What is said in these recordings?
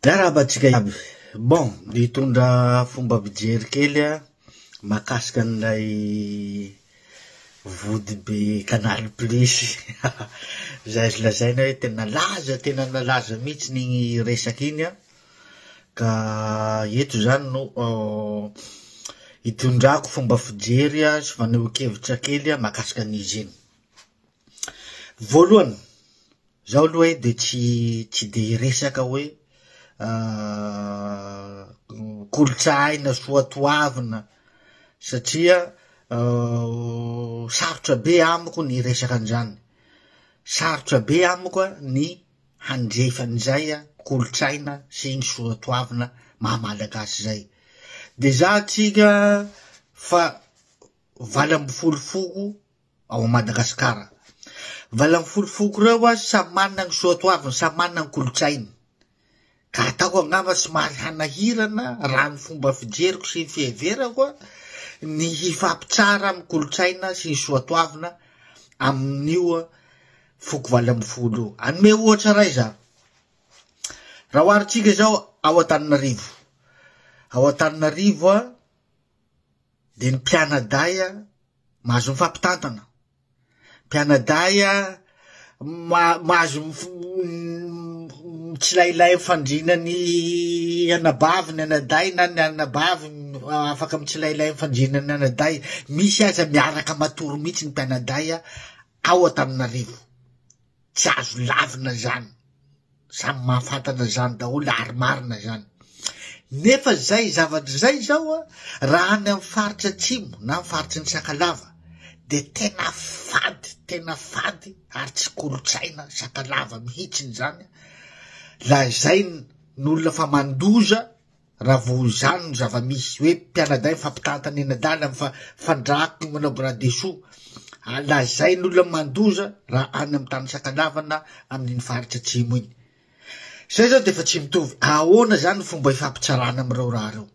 Miarahaba antsika iaby. Bon, nitondra fomba fijery kely aho mahakasika an'ilay vody be canal plus. Izay lazaina hoe tena nalaza tena nalaza mihitsy iny resaka iny ka eto izany no hitondrako fomba fijery sy fanehoan-kevitra kely mahakasika an'izy iny. Voalohany, izaho aloha hoe dia tsy tsy dia hiresaka hoe kolontsahaina soatoavina satria sarotra be amiko ny hiresaka an'izany, sarotra be amiko ny handrefy an'izay kolontsaina sy ny soatoavina maha malagasy izay. Dia izaho tsy ka fa valo ambin'ny folo foko. ao Madagasikara. Valany folo foko ireo an, samy manana ny soatoaviny, samy manana ny kolontsainy. Ka ataoko angamba somary hanahirana raha ny fomba fijeriko sy ny fiheverako an, ny hifampitsara amin'ny kolontsaina sy ny soatoavina amin'io foko valo ambin'ny folo io. Anome ohatra iray za. Raha oharintsika izao ao Antananarivo. Ao Antananarivo an, dia ny mpianadahy mahazo mifampitantana, mpianadahy mahazo mitsilailay mifandrina ny anabavy ny anadahy na ny anabavy afaka mitsilailay mifandrina ny anadahy, misy aza miaraka matory mihitsy ny mpianadahy ao Antananarivo. Tsy azo lavina izany, samy mahafantatra izany daholo ary marina izany. Nefa izay zavatra izay izao a, raha any amin'ny faritra atsimo na amin'ny faritry ny Sakalava de tena fady, tena fady ary tsy kolontsaina Sakalava mihitsiny izany, lazain'ny olona fa mandoza. Raha vao izany no zava-misy, hoe mpianadahy mifampitantana eny an-dalana, mifandrako ny manao bras dessous, ary lazain'olona mandoza raha any amin'ny tany Sakalava na amin'iny faritra atsimo iny. Izay izao dia efa tsy mitovy. Ahoana izany ny fomba ifampitsarana amin'ireo raha ireo?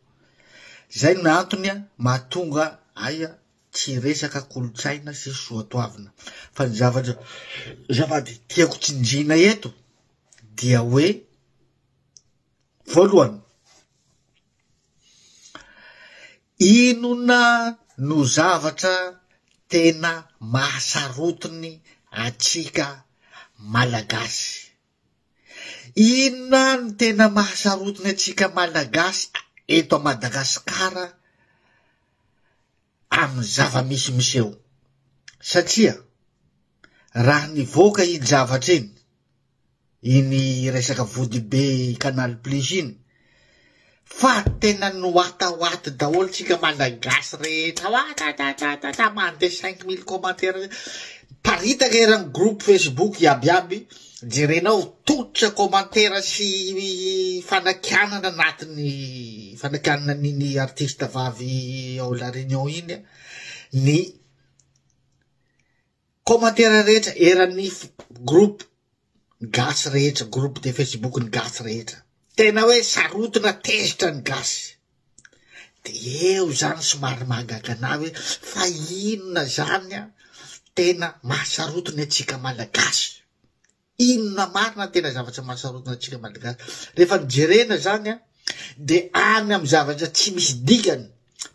Izay no antony mahatonga ahy tsy hiresaka kolontsaina sy soatoavina. Fa ny zavatra zavady tiako tsinjina eto dia hoe Voalohany, inona no zavatra tena mahasarotiny antsika Malagasy? Inona no tena mahasarotiny antsika Malagasy eto Madagasikara amin'ny zava-misy miseho? Satria raha nivoaka iny zavatra iny, iny resaka vodibe canal plus iny fa tena noatahoaty daholo tsika malagasy rehetra ao atatatata mandeha cinq mille commentaires paritaka eran'ny groupe facebook iabiaby jerenao tottra commentaire sy fanakianana anatiny fanakianana an'iny artiste vavy ao la réunion iny ny Commentaire rehetra eran'ny groupe ny gasy rehetra groupe de facebook ny gasy rehetra tena hoe sarotona tezitra ny gasy de eo zany somary mahagaga anah hoe fa inona zany an tena mahasarotiny antsika malagasy Inona marina ny tena zavatra mahasarotiny antsika Malagasy? Rehefa ny jerena zany an, de any amin'ny zavatra tsy misy dikany,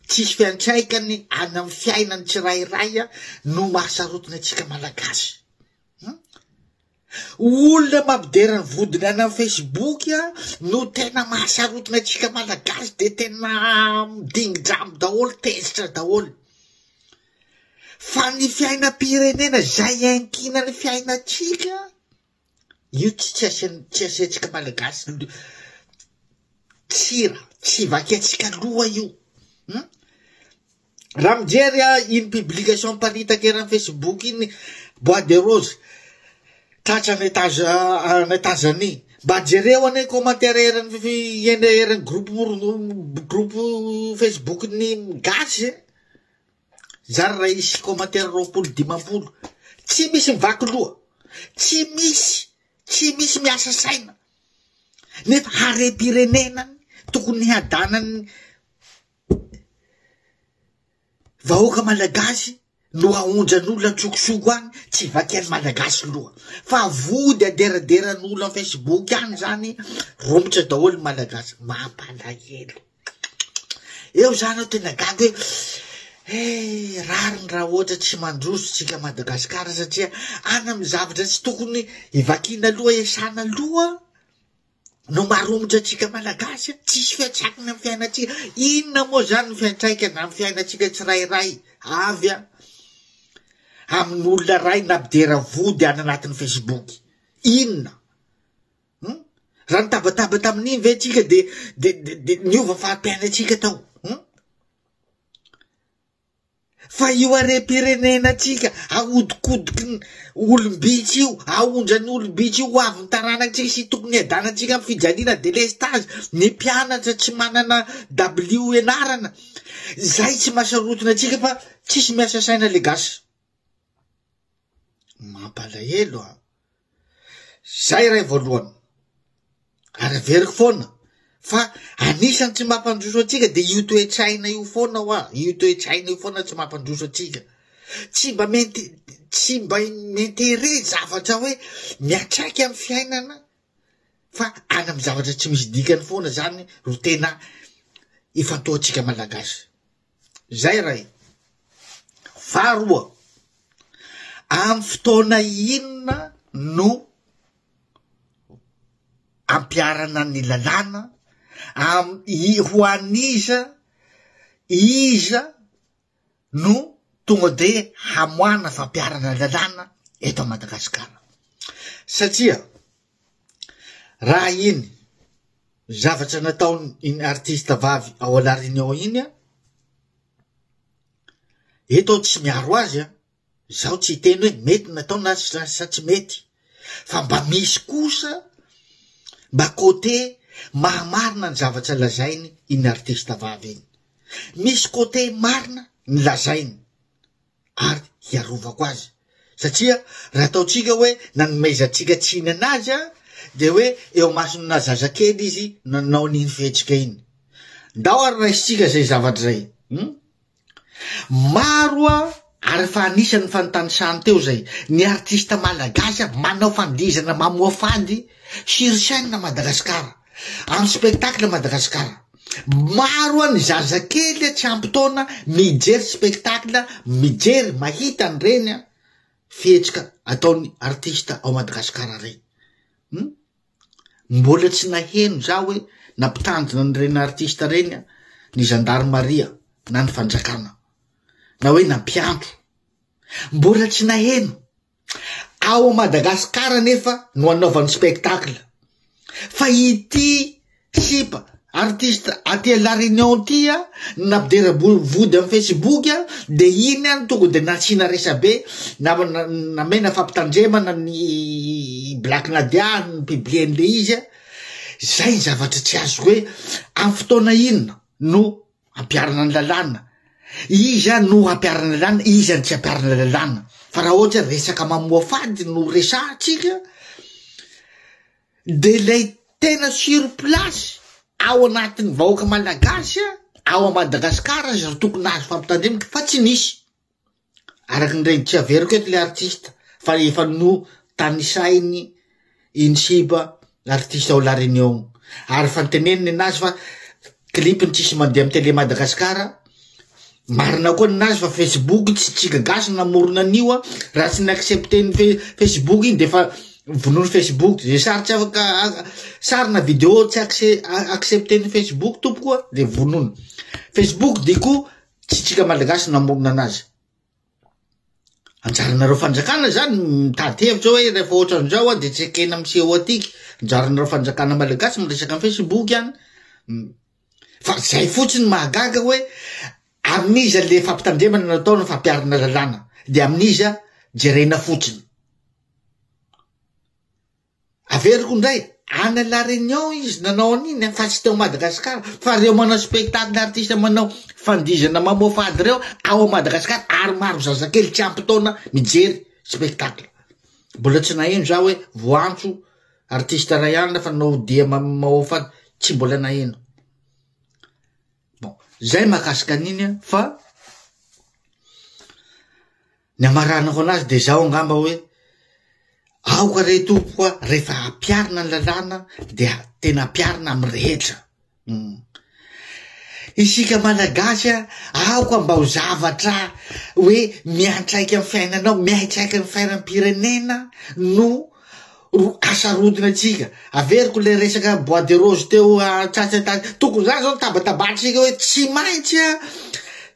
tsisy fiantraikany any amin'ny fiainan'ny tsirairay an, no mahasarotiny antsika Malagasy. Hum? Olona mampidera ny vodiny any amin'ny Facebook an, no tena mahasarotiny antsika Malagasy, de tena dingidramo daholo, tezitra daholo. Fa ny fiainam-pirenena izay iankiana ny fiainantsika, io tsy tsy asin- tsy asiantsika malagasy lo- tsy ra- tsy vakiantsika loha io hum. Raha mijery ah, iny publication miparitaka eran'ny Facebook iny bois de rose tratra any Etaza any Etazania, mba jereo anie ny commentaire eran'ny fi- eny eran'ny groupe moro- groupe Facebook-n'ny gasy e. Zara raha hisy commentaire roapolo dimampolo tsy misy mivaky loha tsy misy tsy misy miasa saina nefa harem-pirenena tokony hadanany vahoaka malagasy no aonjan'olo antsokosoko any tsy vakian'ny malagasy loha fa vody aderaderan'olo am facebook any zany romotra daholo malagasy mampalahelo Eo za anao tena gaga hoe eh, rariny raha ohatra tsy mandroso tsika Madagasikara satria any amin'ny zavatra tsy tokony hivakiana aloha esana aloha no maromotra atsika malagasy tsisy fiatsakina ami'ny fiainatsika inona moa zany ny fiantraikana ami'ny fiainatsika tsirairay avy a amin'olona ray na bidera vody any anatin'ny facebook inona Hum? Raha nitabataba tamin'iny ve tsika de de de niova fari-piainantsika tao? Hum? Fa io harem-pirenena tsika ahodikodiky ny olom-bitsy io, aondrany olom-bitsy io ho avy ny taranakitsika sy tokony hiadanantsika amin'ny fijaliana delestage, ny mpianatra tsy manana dabilio ianarana, zay tsy mahasarotina antsika fa tsisy miasa saina le gasy. Mampalahelo an! Zay ray voalohany. Ary averiko foana fa anisan'ny tsy mampandroso antsika dia io toe-tsaina io foana hoa, io toe-tsaina io foana tsy mampandroso antsika. Tsy mba mente- tsy mba m'intérêt zavatra hoe miatraika amin'ny fiainana fa any amin'ny zavatra tsy misy dikany foana zany ro tena ifantohantsika malagasy. Izay iray. Faharoa, amin'ny fotoana inona no ampiharana ny lalàna, am- i- ho an'iza, iza no tonga de hamoahana fampiharana lalàna eto Madagasikara. Satria Raha iny zavatra nataony iny artista vavy ao à la réunion iny a, eto aho tsy miaro azy a, zaho tsy hiteny hoe mety natao na sa tsy mety fa mba misy kosa mba côté mahamarina ny zavatra lazainy iny artista vavy iny, misy côté marina ny lazainy. ary hiarovako azy. Satria raha ataontsika hoe nanomezantsika tsiny anazy a, dia hoe eo masona zazakely izy nanao n'iny fihetsika iny. Ndao ary raisintsika izay zavatra izay. Hmm? Maro a, ary fa anisan'ny fantanisany teo izay, ny artista malagasy a, manao fandihizana mamoafandy sur scène Madagasikara. Andro spectacle Madagasikara. Maro an ny zazakely an tsy ampy taona mijery spectacle, mijery, mahita an ireny an fihetsika ataon'ny artista ao Madagasikara ireny. Hum? Mbola tsy naheno za hoe nampitandrina an ireny artista ireny an ny zandarimaria na ny fanjakana. Na hoe nampiantso. Mbola tsy naheno. Ao Madagascar anefa no anaovany spectacle fa ity sipa artiste aty à la Réunion ty a nampidera vody am Facebook a de iny any tonga de nasiana resabe na namena fampitandremana ny Black Nadia ny publier an'le izy a zay ny zavatra tsy azoko hoe am fotoana inona no Ampiharina ny lalàna. Iza no hampiharina ny lalàna, iza no tsy hampiharina ny lalàna? Fa raha ohatra hoe resaka mamoafady no resahantsika de lay tena sur place ao anatin'ny vahoaka malagasy ao à Madagasikara aza tokony azo fampitandremana fa tsy nisy. Araky ny reny tsy averiko eto le artiste fa efa no tanisainy iny siba artiste ao la reunion ary fa niteneniny nazy fa clip ny tsisy mandeha am tele Madagascar marina koa ny nazy fa facebook tsy tsika gasy namorona an'io a raha tsy ny accepter ny fe- facebook iny defa vonoiny facebook ze sary tsy afaka sary na video tsy acce- accepter ny facebook tompoko a de vonoiny facebook diko tsy tsika malagasy namorona anazy anjaranareo fanjakana zany mitady hevitra hoe rehefa ohatran'izao a de tsy ekena am seho atiky anjaranareo fanjakana malagasy miresaka am facebook any fa zay fotsiny mahagaga hoe amin'iza le fampitandremana natao no fampiarina lalàna de amin'iza jerena fotsiny Averiko indray, any à la Réunion izy nanao an'iny an, fa tsy teo Madagasikara, fa reo manao spectacle artiste manao fandihizana mamoafo ady reo ao Madagasikara ary maro zazakely tsy ampy taona mijery spectacle, mbola tsy naheno za hoe voantso artiste ray alina fa nanao dia mamoafo ady, tsy mbola naheno, bon zay mahakasika an'iny an fa. Ny amaranako anazy dia izao angamba hoe, aoka re tompoko a, rehefa hampiarina ny lalàna dia tena hampiarina amin'ny rehetra. Uhm. Isika Malagasy a, aoka mba ho zavatra hoe miantraika amin'ny fiainanao, miantraika amin'ny fiainam-pirenena no ro asarodina antsika. Averiko ilay resaka bois de rose teo an-tsasany tany, tokony izany izao no tabatabahantsika hoe tsy maintsy a,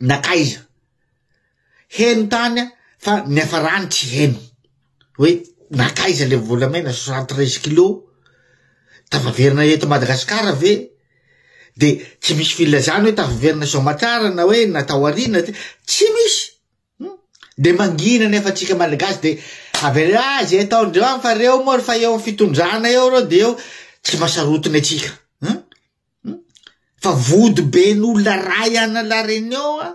nakaiza heno tany a fa niafarany tsy heno hoe nakaiza le volamena soixante treize kilo tafaverina eto madagasikara ve de tsy misy filazana hoe tafaverina soamatsarana hoe natao arina ty tsy misy hmm? de mangina nefa atsika malagasy de avela azy ataondreo any fa reo moa fa eo fitondrana eo reo de eo tsy masarotina atsika Fa vody ben' olona ray an' la Réunion a!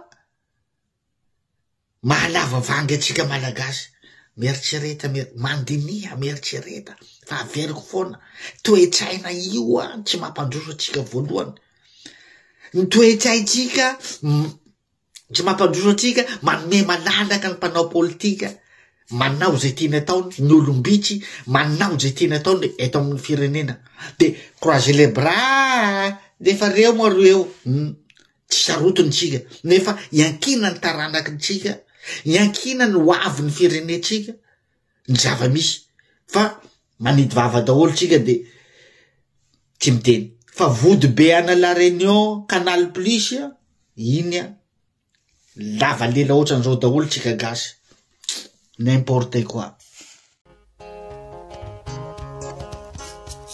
Mahalava vangy antsika Malagasy. Mieritrereta mier- mandiniha mieritrereta fa averiko foana, toe-tsaina io an tsy mampandroso antsika voalohany. Ny toe-tsaintsika Tsy mampandroso antsika, manome malalaka ny mpanao politika, manao izay tiany ataony, ny olom-bitsy, manao izay tiany ataony eto amin'ny firenena. Dia croiser les bras, dia efa reo moa ry eo. Hmm. Tsy sarotiny tsika, nefa iankinan'ny taranaky ny tsika, iankinan'ny ho avin'ny firenentsika, ny zava-misy fa manidy vava daholo tsika de tsy miteny fa vody be ana la reunion canal plus a iny a lava lela ohatran'izao daholo tsika gasy n'importe quoi